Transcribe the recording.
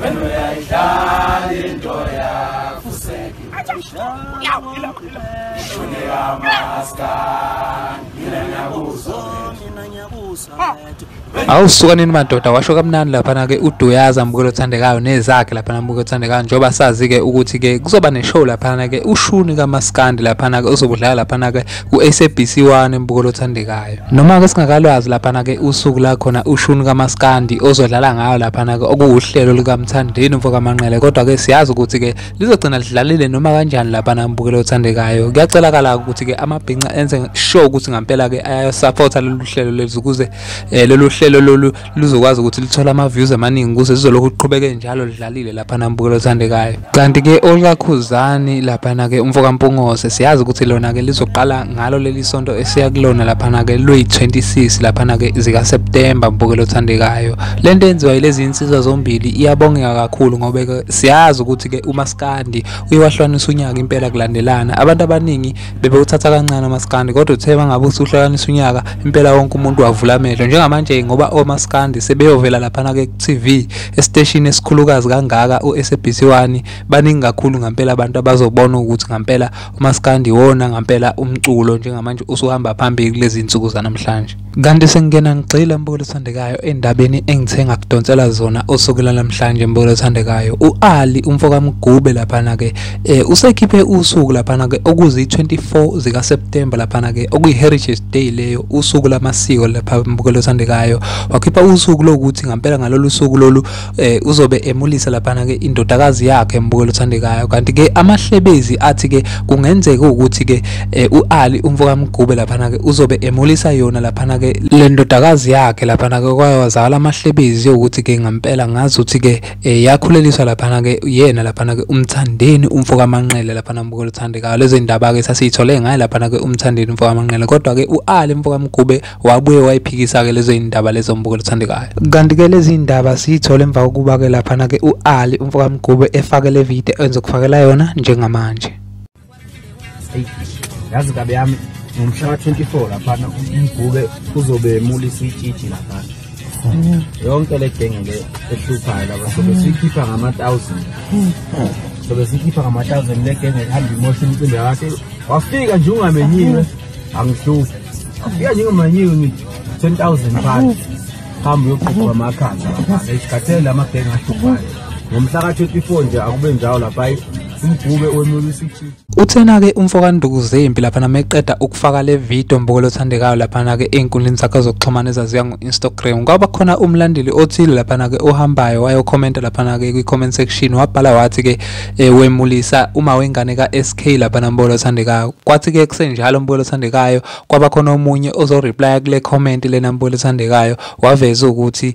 Wena uyayidlala into yakho useki. Shoneka maskani. Mina ngiyakuzo. Mina ngiyakuzo. Awu suka nini madoda washo kamnandi lapha na ke uDuyaza mbukelo othandekayo nezakhe lapha nambukelo othandekayo njoba sazi ke ukuthi ke kuzoba ne show lapha na ke ushuni kaMaskandi lapha na ke uzobudlala lapha na ke ku-SABC 1 embukelo othandekayo noma-ke singakalwazi laphana-ke usuku la khona ushuni kamaskandi ozodlala ngayo laphana-ke okuwuhlelo likamthandeni mfokamanqele kodwa-ke siyazi ukuthi-ke lizogcina lidlalile noma kanjani laphana embukelo othandekayo kuyacelakala ukuthi-ke amabhinca enze sure ukuthi ngampela-ke ayasaphotha lolu hlelo lezi ukuze um lolu hlelo lolu luzokwazi ukuthi lithole ama-views amaningi kuze lizolokhu liqhubeke njalo lidlalile laphana mbukelo othandekayo kanti-ke olikakhuzani laphana-ke umfokampungose siyazi ukuthi lona-ke lizoqala ngalo leli sonto esiya kulona laphana-ke luyi-26 laphana-ke zikaseptemba mbukelo othandekayo le nto yenziwa yilezi insizwa zombili iyabongeka kakhulu ngoba-ke siyazi ukuthi-ke umaskandi uye wahlukanisa unyaka impela kulandelana abantu abaningi bebewuthatha kancane umaskandi kodwa uthe bangabe usuhlukanisa unyaka impela wonke umuntu wavula amehlo njengamanje ngoba omaskandi sebeyovela laphana ke TV esiteshini esikhulukazi kangaka uSABC 1 baningi kakhulu ngempela abantu abazobona ukuthi ngempela umaskandi wona ngempela umculo njengamanje usuhamba phambili kulezi zinsuku zanamhlanje Kanti sengena ngigxila mbulo othandekayo endabeni engithe ngakudonsela zona usuku lanamhlanje mbulo othandekayo uAli umfo kaMgube laphana ke eh usekhiphe usuku laphana ke okuzi 24 zika September laphana ke okuyi Heritage Day leyo usuku lamasiko lapha mbulo othandekayo wakhipha usuku lokuthi ngampela ngalolu suku lolu eh uzobe emulisa laphana ke indodakazi yakhe embukela uthandekayo kanti ke amahlebezi athi ke kungenzeka ukuthi ke eh, uAli umfoka Mgube laphana ke uzobe emulisa yona laphana ke le ndodakazi yakhe laphana ke kwayazala amahlebezi ukuthi ke ngempela ngazi ukuthi ke eh, yakhuleliswa laphana ke yena laphana ke umthandeni umfoka Manqele laphana embukela uthandekayo lezindaba ke sasiyithole ngaye laphana ke umthandeni umfoka Manqele kodwa ke uAli umfoka Mgube wabuye wayiphikisa-ke lezo yindaba lezo mbuko luthandekayo kanti-ke lezi yindaba siyithole emva kokuba-ke laphana-ke u-ali umfokamgube efake le video enze kufakela yona njengamanje yazi kabe yami ngomhla ka-24 laphana umgube uzobe emulisa itshitshi laphana yonke le genge le ehluphayo laba sobe hmm. siyikhipha ngama-thousand hmm. sobe siyikhipha ngama-thousand le genge ehamba imosha imicimbi yakhe wafika nje ungamenyiwe hmm. angihluphi wafika nje ungamanyiwe ngithi ten thousand phansi hambe uyoqhuba amakhanda lapha esikhathele la magenge ahluphayo ngomhla ka-twenty four nje akube njalo lapha umgube wemulisii Uthena-ke umfo kaNduku Zempi laphana meqeda ukufaka le video mbukelo othandekayo laphana-ke ey'nkundleni zakhe zokuxhumana ezaziwa ngo-Instagram kwaba khona umlandeli othile laphana-ke ohambayo wayokhomenta laphana-ke kwi-comment section wabhala wathi-ke um wemulisa uma wengane ka-s k laphana mbukelo othandekayo kwathi-ke kusenjalo mbukelo othandekayo kwaba khona omunye ozoreplya kule comment lena mbukelo othandekayo waveza ukuthi